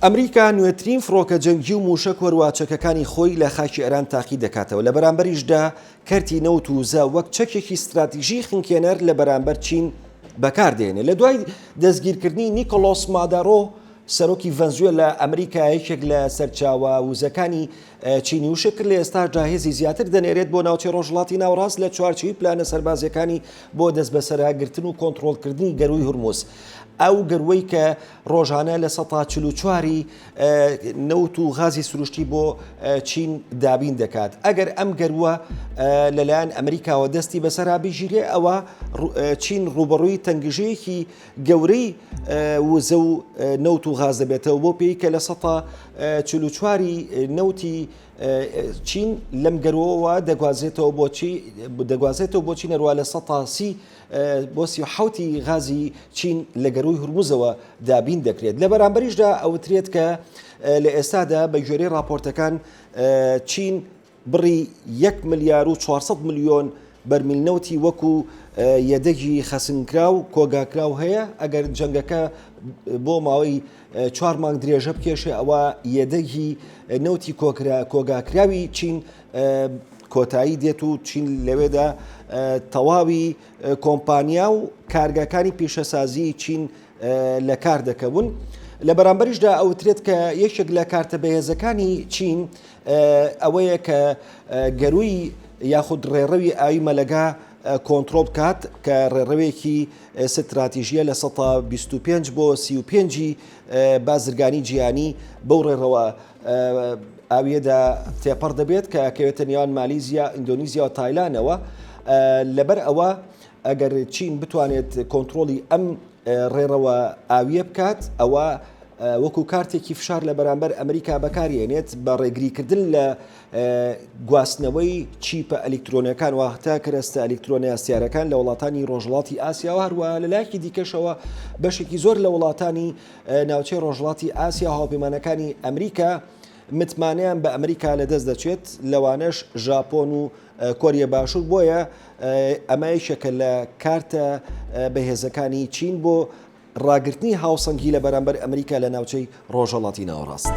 ئەمریکا نوێترین فڕۆکە جەنگی و مووشەک وەروا چەکەکانی خۆی لە خاکی ئێران تاقی دەکاتەوە لە بەرامبەریشدا کەرتی نەوت و زە وەک چەکێکی ستراتیژی خنکێنەر لە بەرامبەر چین بەکاردێنێ لە دوای دەستگیرکردنی نیکۆلۆس مادارۆ سەرۆکی ڤەنزوێ لە ئەمریکا یەکێک لە سەرچاوە وزەکانی چینی وشە کرد لە ئێستاشدا هێزی زیاتر دەنێرێت بۆ ناوچەی ڕۆژڵاتی ناوڕاست لە چوارچوی پلانە سەربازیەکانی بۆ دەست بەسەرگرتن و کۆنتترۆلکردنی گەروی هورمز ئەو گەروەی کە ڕۆژانە لە سەتا چل و چواری نەوت و غازی سروشتی بۆ چین دابین دەکات ئەگەر ئەم گەرووە لەلایەن ئەمریکاوە دەستی بەسەرا بگیرێ ئەوە چین ڕوبەڕووی تەنگژەیەکی گەورەی وزە و نەوت و غاز دەبێتەوە بۆ پێی کە لە سەتا چل و چواری نەوتی چین لەم گەرەوە دەگوازێتەوە بۆچی دەگوازێتەوە بۆچی نەروە لە سەتاسی بۆ سی و حەوت ی غازی چین لە گەرووی هورموزەوە دابین دەکرێت، لە بەرامبەریشدا ئەوترێت کە لە ئێستادا بە گوێرەی ڕاپۆرتەکان چین بڕی یەک ملیار و چوار سەد ملیۆن بەرمیل نەوتی وەکو یەدەگی خەسنکراو کۆگاکراو هەیە، ئەگەر جەنگەکە بۆ ماوەی چوار مانگ درێژە بکێشێ ئەوە یەدەگی نەوتی کۆکرا کۆگاکراوی چین کۆتایی دێت و چین لەوێدا تەواوی کۆمپانیا و کارگەکانی پیشەسازی چین لە کار دەکەون. لە بەرامبەریشدا ئەوترێت کە یەکێک لە کارتە بەهێزەکانی چین ئەوەیە کە گەروی یاخود ڕێڕەوی ئاوی مەلەگا کۆنتڕۆڵ بکات کە ڕێڕەوێکی ستراتیژیە لە سەتا 25 بۆ 35 بازرگانی جیانی بەو ڕێڕەوە ئاویەدا تێپەڕ دەبێت کە کەوێتە نێوان مالیزیا ئیندۆنیزیا و تایلانەوە لەبەر ئەوە ئەگەر چین بتوانێت کۆنتترۆلی ئەم ڕێڕەوە ئاویە بکات ئەوە وەکو کارتێکی فشار لە بەرامبەر ئەمریکا بەکارێنێت بە ڕێگریکردن لە گواستنەوەی چیپە ئەلیکترۆنەکان واهتە کەرەستە ئەلیکترۆنە یاسیارەکان لە وڵاتانی ڕۆژڵاتی ئاسیا و هەروە لە لایکی دیکەشەوە بەشێکی زۆر لە وڵاتانی ناوچەی ڕۆژڵاتی ئاسیا هاوپەیمانەکانی ئەمریکا متمانیان بە ئەمریکا لە دەست دەچێت لەوانەش ژاپۆن و کۆریە باشوور بۆیە ئەمە یەکێکە لە کارتە بەهێزەکانی چین بۆ ڕاگرتنی هاوسەنگی لە بەرامبەر ئەمریکا لە ناوچەی ڕۆژهەڵاتی ناوەڕاست.